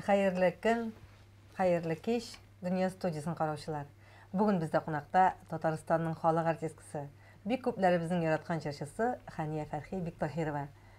Хәерле көн, хәерле кич, Дөнья студиясен караучылар. Бүген бездә кунакта Татарстанның халык артисткасы, бик күпләребезнең яраткан җырчысы Хәния Фәрхи Биктаһирова.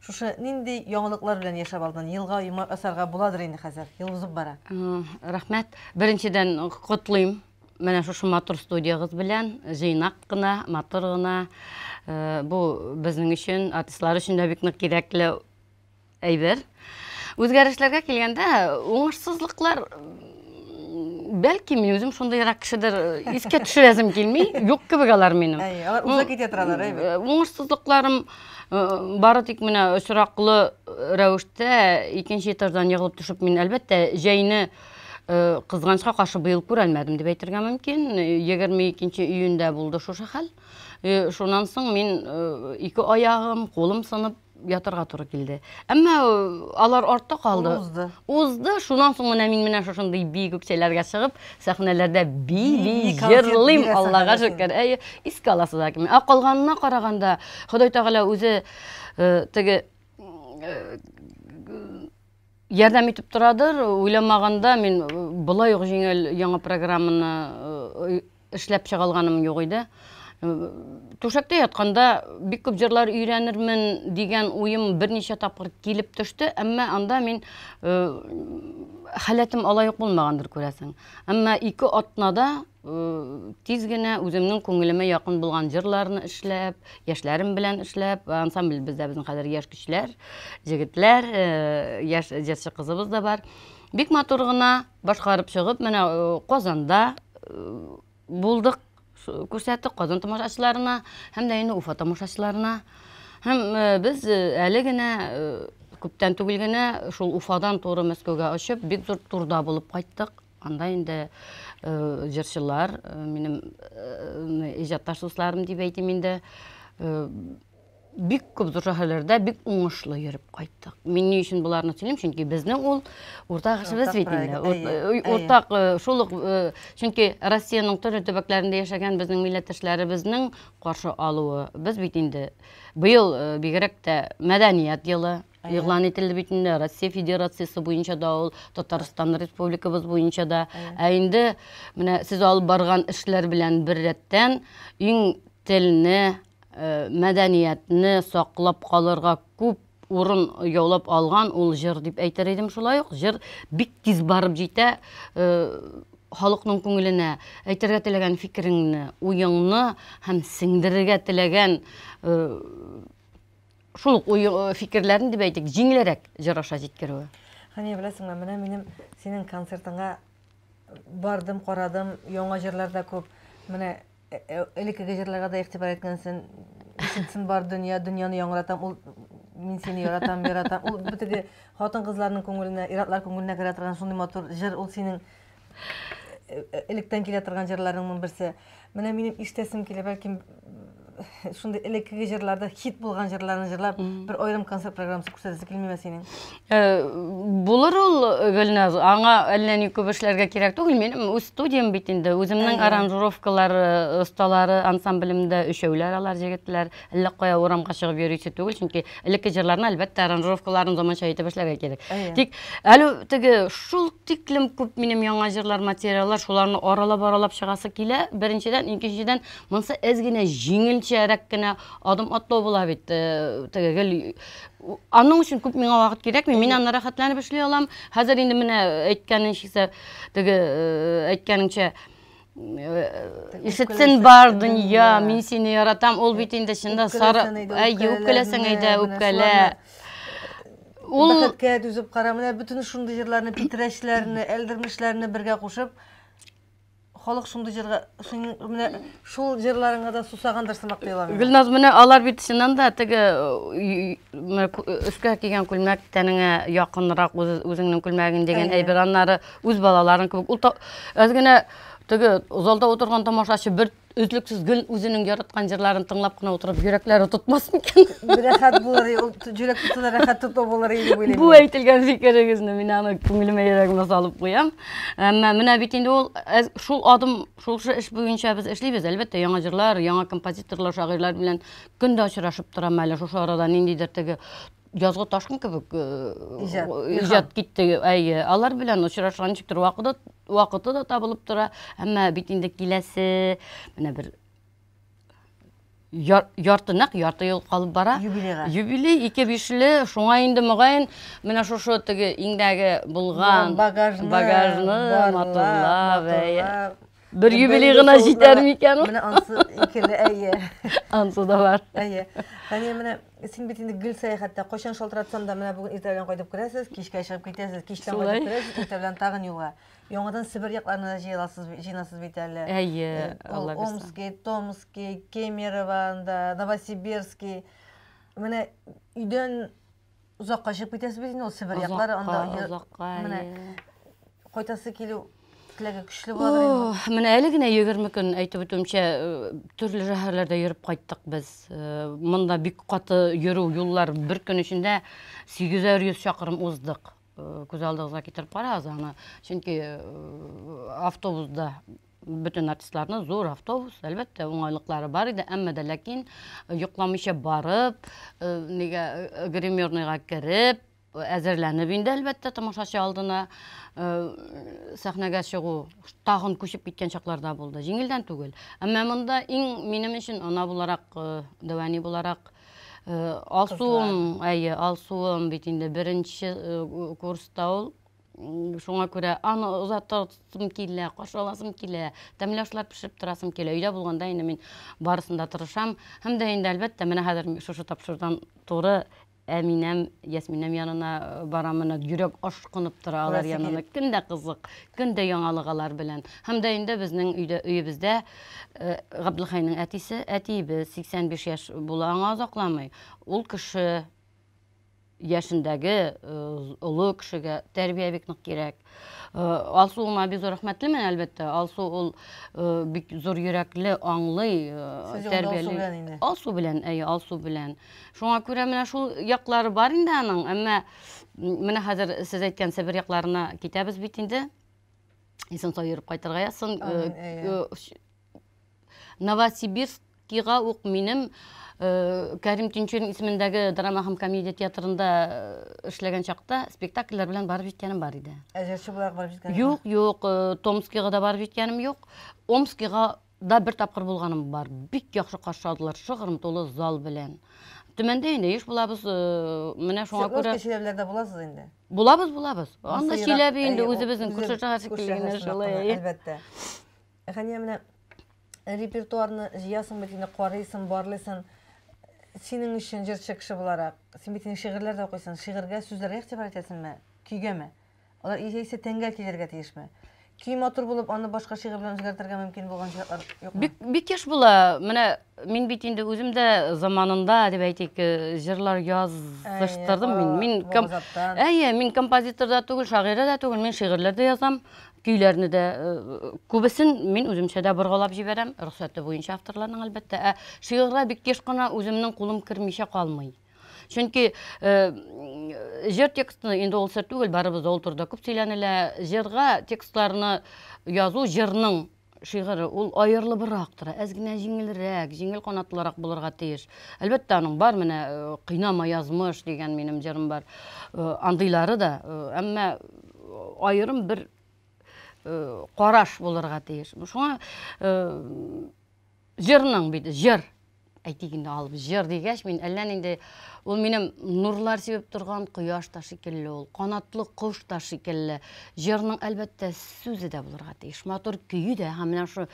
Шушы нинди яңалыклар белән яшәп алдың? Елга йомар асарга буладыр инде хәзер. Ел узып бара. Рәхмәт. Беренчедән котлыйм менә шушы матур студиягыз белән җыйнак кына матур гына э, бу безнең өчен артистлар өчен дә бик нык кирәкле әйбер үзгәрешләргә килгәндә уңышсызлыклар бәлки мин үзем шундыйрак кешедер искә төшерәсем килми юк кебек алар минем алар уза китә торалар әйбәт уңышсызлыкларым бары тик менә очраклы рәвештә икенче этаждан егылып төшеп мин әлбәттә җәйне кызганычка каршы быел күрәлмәдем дип әйтергә мөмкин егерме икенче июньдә булды шушы хәл шуннан соң мин ике аягым кулым сынып ятырга туры килде. Әмма алар артта калды. Узды. Узды. Шуннан соң менә мин менә шушындый бии күкчәләргә чыгып, сәхнәләрдә бии, җырлыйм, Аллага шөкер. Әйе, искә аласы да килми. Ә калганына караганда, Ходай Тәгалә үзе теге ярдәм итеп торадыр. Уйламаганда мин болай ук җиңел яңа программаны Эшләп чыга алганым юк иде. Түшәктә ятканда бик күп җырлар өйрәнермен дигән уем берничә тапкыр килеп төште, әмма анда мин э, халәтем алай ук булмагандыр күрәсең. Әмма ике атнада э, тиз генә үземнең күңелемә якын булган җырларны эшләп, яшьләрем белән эшләп, ансамбль бездә безнең хәзер яшь көчләр, җегетләр, э, яшь җырчы кызыбыз да бар. Бик матур гына Башкарып чыгып, менә э, Казанда э, булдык, күрсәттек Казан тамашачыларына һәм дә инде Уфа тамашачыларына. Һәм э, без әле генә күптән түгел генә шул Уфадан туры Мәскәүгә очып, бик зур турда булып кайттык. Анда инде җырчылар, минем иҗатташ дусларым дип әйтим инде, бик күп зур шәһәрләрдә бик уңышлы йөреп кайттык. Мин ни өчен боларны сөйлим, чөнки безнең ул уртак эшебез бит инде. Уртак шул ук чөнки Россиянең төрле төбәкләрендә яшәгән безнең милләттәшләребезнең каршы алуы. Без бит инде быел бигрәк тә мәдәният елы игълан ителде бит инде Россия Федерациясе буенча да ул Татарстан Республикабыз буенча да. Ә инде менә сез алып барган эшләр белән беррәттән иң телне Э, мәдәниятне саклап калырга күп урын яулап алган ул җыр дип әйтер идем шулай ук җыр бик тиз барып җитә э, халыкның күңеленә әйтергә теләгән фикереңне уеңны һәм сеңдерергә теләгән э, шул ук э, фикерләрен дип әйтик җиңелрәк җыр аша җиткерүе хәния беләсеңме менә минем синең концертыңа бардым карадым яңа җырлар да күп менә Э, э, элеккеге җырларга да игътибар иткәнсен ишетсен бар дөнья дөньяны яңратам ул мин сине яратам яратам ул битеге хатын кызларның күңеленә иратлар күңеленә керә торган шундый матур җыр ул синең э, электән килә торган җырларыңның берсе менә минем ишетәсем килә бәлки Шундый элеккеге җырларда хит булган җырларны җырлап, бер аерым концерт программасы күрсәтәсе килмиме синең? Э, булыр ул э, Гөлназ, аңа әллә ни күп эшләргә кирәк түгел. Минем үз студиям бит инде, үземнең аранжировкалар осталары э, ансамблемдә өчәүләр алар җегетләр. Әллә кая урамга чыгып йөрисе түгел, чөнки элекке җырларны әлбәттә аранжировкаларын заманча итеп эшләргә кирәк. Тик әле теге шул тиклем күп минем яңа җырлар материаллар, шуларны аралап-аралап чыгасы килә. Беренчедән, икенчедән Монсы әз генә җиңелчәрәк кенә адым атлау була бит. Э, теге гел аның өчен күп миңа вакыт кирәкми. Мин аны рәхәтләнеп эшли алам. Хәзер инде менә әйткәнеңчә, теге э, әйткәнеңчә э, ишетсен бар дөнья, мин сине яратам. Ул бит инде чында сары, әйе, үпкәләсәң әйдә, үпкәлә. Ул бәхеткә түзеп кара, менә бөтен шундый җырларны, питрәчләрне, әлдермешләрне бергә кушып, халык шундый җырга синең менә шул җырларыңа да сусагандыр сымак тоела миңа. Гөлназ, менә алар бит чыннан да теге өскә кигән күлмәк тәнеңә якынрак үзеңнең күлмәгең дигән әйбер, аннары үз балаларың кебек. Ул аз генә теге залда утырган тамашачы бер Өзлексез гел үзенең яраткан җырларын тыңлап кына утырып, йөрәкләре тотмас микән? Рәхәт булыр, ул җөрәк тотуына рәхәт тоту булыр иде уйлыйм. Бу әйтелгән фикерегезне мин аны күңелемә йөрәгемә салып куям. Әмма менә бит инде ул э, шул адым, шул эш буенча без эшлибез. Әлбәттә, яңа җырлар, яңа композиторлар, шагыйрьләр белән көн дә очрашып торам әле. Шушы арада ниндидер теге язгы ташкын кебек иҗат китте әйе алар белән очрашкан ничектер вакыты вакыты да табылып тора әмма бит инде киләсе менә бер ярты нәкъ ярты ел калып бара юбилейга юбилей ике бишле шуңа инде мөгаен менә шушы теге иңдәге булган багажны багажны матурлап Бер юбилей гына җитәр микән ул? Менә ансы икеле, әйе. Ансы да бар. Әйе. Фәния, менә син бит инде гел сәяхәттә, кайчан шалтыратсам да, менә бүген иртә белән кайтып керәсез, кичкә чыгып китәсез, кичтән кайтып керәсез, иртә белән тагын юлга. Яңадан Себер якларына да җыеласыз, җыйнасыз бит әле. Әйе, э, Алла бирсә. Омский, Томский, Кемерово, Новосибирский. Менә өйдән Озакка чыгып китәсез бит инде ул Себер яклары анда. Озакка, менә кайтасы килү теләге көчле булыр инде. Менә әле генә 20 көн әйтеп үтүемчә э, төрле шәһәрләрдә йөреп кайттык без. Э, монда бик каты йөрү юллар бер көн эчендә 800 чакрым уздык. Э, күз алдыгызга китереп карагыз аны. Чөнки автобусда бөтен артистларны зур автобус, әлбәттә, уңайлыклары бар иде, әмма дә ләкин э, йоклаучы барып, э, нигә э, гримерныйга кереп, әзерләнеп инде, әлбәттә, тамашачы алдына сәхнәгә чыгу тагын күчеп киткән чакларда булды. Җиңелдән түгел. Әмма монда иң минем өчен ана буларак, дәвәни буларак Алсуым, әйе, Алсуым бит инде беренче курста ул Шуңа күрә аны озатасым килә, каршы аласым килә, тәмле ашлар пешереп торасым килә. Өйдә булганда инде мин барысын да тырышам. Һәм дә инде, әлбәттә, менә хәзер шушы тапшырудан туры Әминәм, Ясминәм янына э, барам, менә йөрәк ашкынып тора алар янына. Көн дә кызык, көн дә яңалык алар белән. Һәм дә инде безнең өйдә, өебездә э, Габделхайның әтисе, әтиебез 85 яшь була, аңа озакламый. Ул кеше яшендәге олы кешегә тәрбия бик нык кирәк. Алсу уңа бик зур рәхмәтлемен, әлбәттә. Алсу ул бик зур йөрәкле, аңлый, тәрбияли. Алсу белән, әйе, Алсу белән. Шуңа күрә менә шул яклары бар инде аның, әмма менә хәзер сез әйткәнчә бер якларына китәбез бит инде. Исән сау йөреп кайтырга язсын. Новосибирскига ук минем Кәрим Тинчурин исемендәге драма һәм комедия театрында эшләгән чакта спектакльләр белән барып җиткәнем бар иде. Ә җырчы буларак барып җиткәнем? Юк, юк, Томскига да барып җиткәнем юк. Омскига да бер тапкыр булганым бар. Бик яхшы каршы алдылар, шыгрым тулы зал белән. Төмәндә инде еш булабыз, э, менә шуңа күрә... Свердловский шәһәрләрдә буласыз инде? Булабыз, булабыз. Анда Чиләбе инде үзебезнең Күрше шәһәр шикелле генә шулай. Әлбәттә. Хәния, менә репертуарны җыясың бит инде, карыйсың, барлыйсың. Синең өчен җырчы кеше буларак, син бит инде шигырьләр дә укыйсың. Шигырьгә, сүзләргә игътибар итәсеңме? Көйгәме? Алар яисә тәнгә килергә тиешме? Көй матур булып, аны башка шигырь белән үзгәртергә мөмкин булган чиратлар юкмы? Бик, бик еш була. Менә Мин бит инде үзем дә заманында, дип әйтик, җырлар языштырдым мин. Мин ком... Әйе, мин композитор да түгел, шагыйрә дә түгел, мин шигырьләр дә язам, көйләрне дә күбесен мин үземчә дә боргалап җибәрәм, рөхсәте буенча авторларның әлбәттә. Ә шигырьгә бик еш кына үземнең кулым кермичә калмый. Чөнки җыр текстны инде ул сер түгел, барыбыз да ул турыда күп сөйләнелә. Җырга текстларны язу җырның шигыре ул аерылыбрак тора, әз генә җиңелрәк, җиңел канатлырак булырга тиеш. Әлбәттә, аның бар менә э, кыйнама язмыш дигән минем җырым бар. Э, андыйлары да, э, әмма аерым бер караш булырга тиеш. Шуңа Җырның бит, җыр. Әйтик инде алып җыр дигәч, мин әллә нинди ул минем нурлар сибеп торган кояш та шикелле ул, канатлы кош та шикелле. Җырның әлбәттә сүзе дә булырга тиеш, матур көе дә һәм менә шул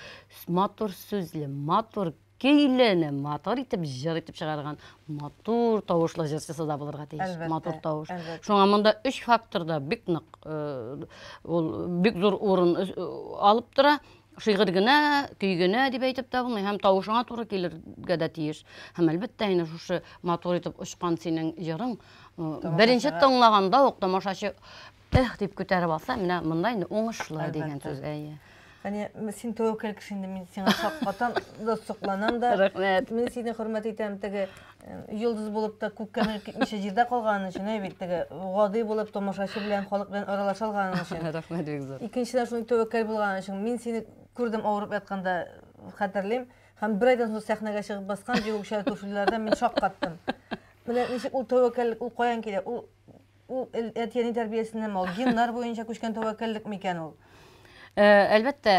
матур сүзле, матур көйләне матур итеп җыр итеп чыгарган матур тавышлы җырчысы да булырга тиеш матур тавыш шуңа монда өч факторда бик нык э, ул бик зур урын э, алып тора Шигырь генә, көй генә дип әйтеп тә булмый, һәм тавышыңа туры килергә дә тиеш. Һәм әлбәттә инде шушы матур итеп очкан синең җырың беренче тыңлаганда ук тамашачы эх дип күтәреп алса, менә монда инде уңышлы дигән сүз. Әйе. Әне син тәвәккәл кеше инде, мин сиңа шаккатам да, сокланам да. Рәхмәт. Мин сине хөрмәт итәм, теге йолдыз булып та күккә менеп китмичә җирдә калганы өчен әй бит теге гади булып томашачы белән халык белән аралаша алганы өчен рәхмәт бик зур икенчедән шундый тәвәккәл булган өчен мин сине күрдем авырып ятканда хәтерлим һәм бер айдан соң сәхнәгә чыгып баскан җиңүче күршеләрдә мин шаккаттым менә ничек ул тәвәккәллек ул каян килә ул ул әти әни тәрбиясеннән ул геннар буенча күчкән тәвәккәллек микән ул әлбәттә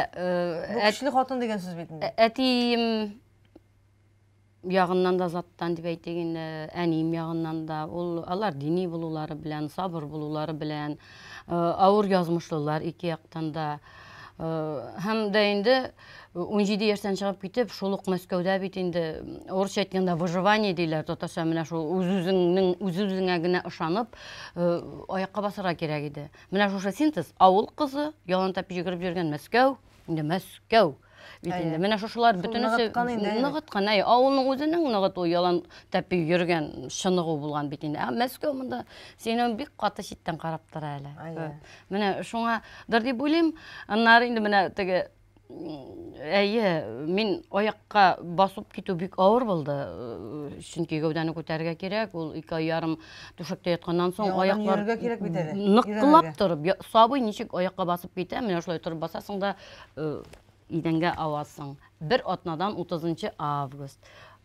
көчле хатын дигән сүз бит әтием ягыннан да заттан дип әйтик инде, әнием ягыннан да, ул алар дини булулары белән, сабыр булулары белән, э, авыр язмышлылар ике яктан да. Э, һәм дә инде 17 э, яшьтән чыгып китеп, шул ук Мәскәүдә бит инде урысча әйткәндә выживание диләр, татарча менә шул үз-үзеңнең үз-үзеңә генә ышанып, аякка басарга кирәк иде. Менә шушы синтез, авыл кызы, ялан тәпи йөгереп йөргән Мәскәү, Инде Мәскәү. Бит инде менә шушылар бөтенесе ныгыткан, әй, авылның үзенең ныгыт ул ялан тәпи йөргән чыныгу булган бит инде. Ә Мәскәү монда сине бик каты читтән карап тора әле. Менә шуңа дыр дип уйлыйм. Аннары инде менә теге Әйе, мин аякка басып китү бик авыр булды. Чөнки гәүдәне күтәрергә кирәк, ул ике ай ярым Түшәктә ятканнан соң Яңадан аяклар йөрергә кирәк бит әле. нык Йөрәмәгә. кылап торып, я- сабый ничек аякка басып китә, менә шулай торып басасың да э, идәнгә авасың. Бер атнадан 30 август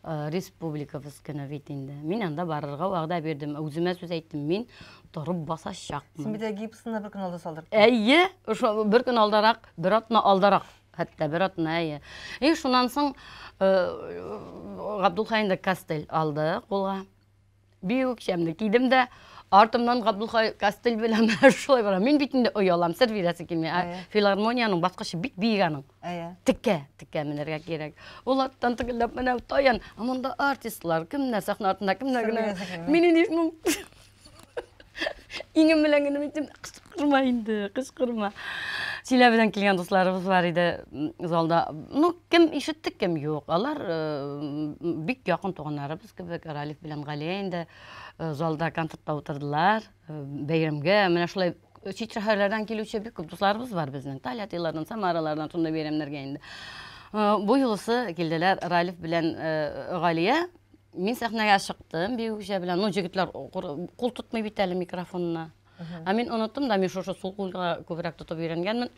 э, республикабыз көне бит инде. Мин анда барырга вәгъдә бирдем. Үземә сүз әйттем, мин торып Син басачакмын. бит әле гипсны бер көн алда салдырып. Әйе, ошо бер көн алдарак, бер атна алдарак, хәтта бер атна, әйе. И шуннан соң э, Габдулхаенда кастель алды кулга. Бию үкчәмне кидем дә, артымнан Габдулхай Кастель белән шулай бара. Мин бит инде оялам, сер бирәсе килми. Ә Әйе. филармониянең баскычы бик биек аның. Әйе. Текә, текә менәргә кирәк. Ул арттан тегелләп менә таян, ә монда артистлар, кемнәр сәхнә артында, кемнәр генә. Сер бирәсе килми. Мин инде шуның иңем белән генә әйттем, кычкырма инде, кычкырма. Чиләбедән килгән дусларыбыз бар иде м, залда. Ну, кем ишетте, кем юк. Алар э, м, бик якын туганнарыбыз. Кебек Ралиф белән Галия инде э, залда концертта утырдылар. Э, бәйрәмгә менә шулай э, чит шәһәрләрдән килүче бик күп дусларыбыз бар безнең. Тольяттилардан, Самаралардан шундый бәйрәмнәргә инде. Бу юлысы килделәр Ралиф белән Галия. Мин сәхнәгә чыктым биючә белән. Ну, җегетләр кул тотмый бит әле микрофонына. Ә мин оныттым да, мин шушы сул кулга күбрәк тотып өйрәнгәнмен.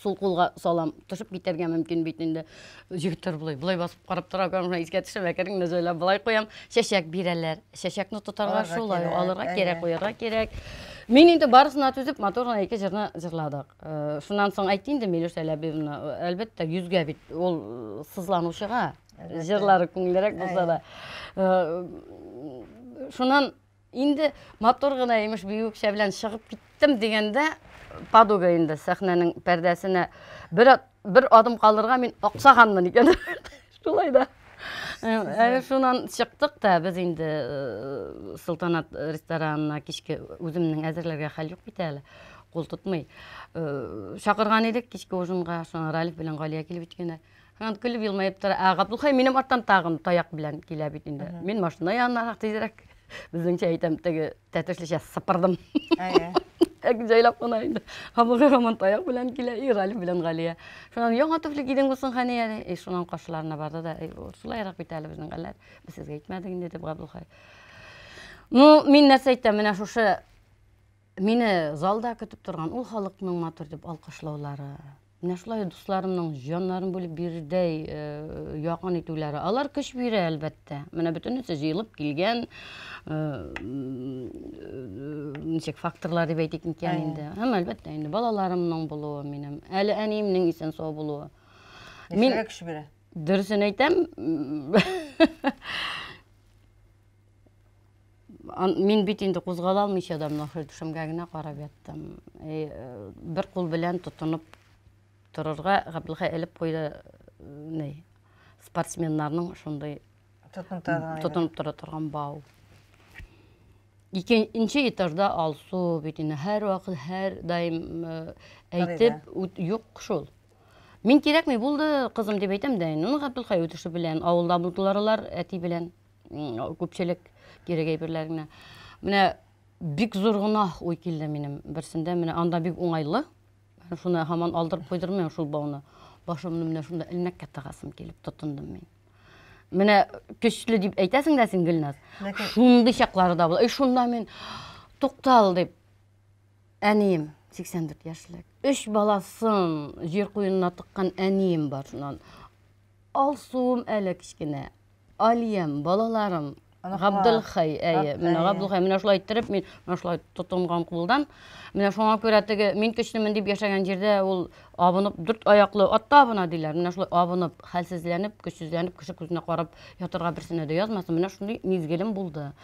сул кулга салам төшеп китәргә мөмкин бит инде егетләр болай болай басып карап тора икән менә искә төшеп әкрен генә җайлап болай куям чәчәк бирәләр чәчәкне тотарга шулай алырга кирәк куярга кирәк мин инде барысына түзеп матур гына ике җырны җырладык э, шуннан соң әйтте инде милүш әләбиевна әлбәттә йөзгә бит ул э, сызланучыга җырлары күңеллерәк булса да э, шуннан Инде матур гына имеш биюкчә белән чыгып киттем дигәндә, подуга инде сәхнәнең пәрдәсенә бер, бер адым калырга мин аксаганмын икән. Шулай да. Э, шунан чыктык та без инде э, Султанат ресторанына кичке үземнең әзерләргә хәл юк бит әле кул тотмый. Э, чакырган идек кичке ужинга, шуңа Ралиф белән Галия килеп җиткәннәр. Һәм көлеп елмаеп тора. Ә Габдулхай минем арттан тагын таяк белән килә бит инде. Мин машина янына тизрәк. Безнеңчә әйтәм, теге тәтешлечә сыпырдым. Әйе. Әк җайлап кына инде. Хабыгы һаман таяк белән килә, и Галиф белән Галия. Шуннан яңа туфли кидең булсын Хәния. И шуннан каршыларына барды да, шулайрак бит әле безнең хәлләр. Без сезгә әйтмәдек инде дип Габдулхай. Ну, мин нәрсә әйтәм, менә шушы Мине залда көтеп торган ул халыкның матур дип алкышлаулары, менә шулай дусларымның җаннарын бүлеп бирердәй э, якын итүләре, алар көч бирә, әлбәттә. Менә бөтенесе җыелып килгән э, ничек факторлар дип әйтик микән инде. Һәм әлбәттә инде балаларымның булуы минем, әле әниемнең исән сау булуы. Мин көч бирә. Дөресен әйтәм. мин бит инде кузгала алмыйча да менә шул түшәмгә генә карап яттым. Э, бер кул белән тотынып торырга Габдулхай элеп куйды э, ни спортсменнарның шундый тотынып тора торган бау. Икенче этажда Алсу бит инде һәр вакыт һәр даим э, әйтеп юк шул. Мин кирәкми булды кызым дип әйтәм дә инде. Ну Габдулхай үтеше белән авылда булдылар алар әти белән. күпчелек кирәк әйберләр генә. Менә бик зур гына уй килде минем берсендә. Менә анда бик уңайлы. Шуны һаман алдырып куйдырмыйм шул бауны. Башымны менә шунда элмәккә тагасым килеп тотындым мин. Менә көчле дип әйтәсең дә син Гөлназ. Ләкин... Шундый чаклары да була. И шунда мин туктал дип әнием 84 яшьлек. Өч баласын җир куенына тыккан әнием бар шуннан. Алсуым әле кечкенә. Алиям, балаларым, Габделхай, әйе, менә Габделхай, менә шулай иттереп, мин менә шулай тотынган кулдан. Менә шуңа күрә теге мин көчлемен дип яшәгән җирдә ул абынып, дүрт аяклы атта абына диләр. Менә шулай абынып, хәлсезләнеп, көчсезләнеп, кеше күзенә карап ятырга берсенә дә язмасын. Менә шундый мизгелем булды.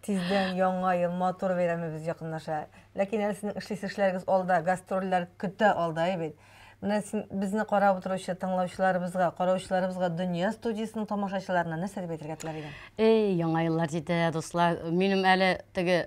Тиздән яңа ел, матур бәйрәмебез якынлаша. Ләкин әле сезнең эшлисе эшләрегез алда, гастрольләр көтә алда, әй бит. Менә син безне карап утыручы тыңлаучыларыбызга, караучыларыбызга Дөнья студиясенең тамашачыларына нәрсә дип әйтергә теләр идең? Эй, яңа еллар җитә, дуслар. Минем әле теге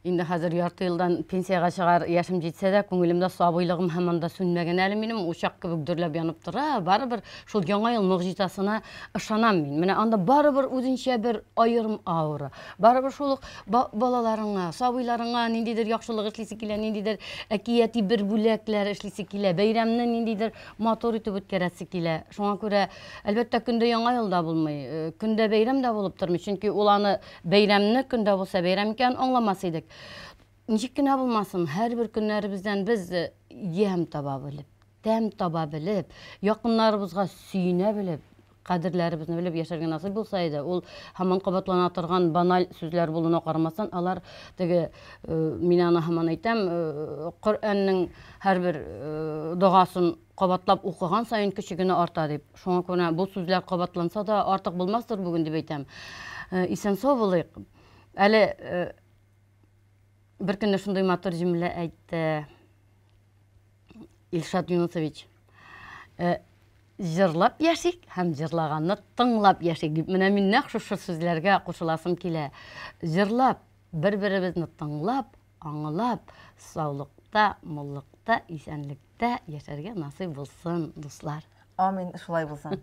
инде хәзер ярты елдан пенсиягә чыгар яшем җитсә дә, күңелемдә сабыйлыгым һаман да сүнмәгән әле минем, учак кебек дөрләп янып тора. Барыбер Шул Яңа ел могҗизасына ышанам мин. Менә анда барыбер үзенчә бер аерым аура. Барыбер шул ук балаларыңа, сабыйларыңа ниндидер яхшылык эшлисе килә, ниндидер әкияти бер бүләкләр эшлисе килә, бәйрәмне ниндидер матур итеп үткәрәсе килә. Шуңа күрә, әлбәттә, көндә Яңа ел да булмый, э, көндә бәйрәм дә булып тормый, чөнки ул аны бәйрәмне көндә булса бәйрәм икәнен аңламас идек. Ничек кенә булмасын, һәрбер көннәребездән без э, ямь таба белеп тәм таба белеп, якыннарыбызга сөенә белеп, кадерләребезне белеп яшәргә насыйп булса иде, ул һаман кабатлана торган баналь сүзләр булуына карамастан, алар теге, э, мин аны һаман әйтәм, э, Коръәннең һәрбер э, догасын кабатлап укыган саен көче генә арта дип. Шуңа күрә бу сүзләр кабатланса да артык булмастыр бүген дип әйтәм. Э, исән сау булыйк. Әле э, бер көнне шундый матур җөмлә әйтте. Илшат Юнусович, э, җырлап яшик һәм җырлаганны тыңлап яшик дип менә мин нәкъ шушы сүзләргә кушыласым килә. Җырлап, бер-беребезне тыңлап, аңлап, саулыкта, муллыкта, исәнлектә яшәргә насыйп булсын, дуслар. Амин, шулай булсын.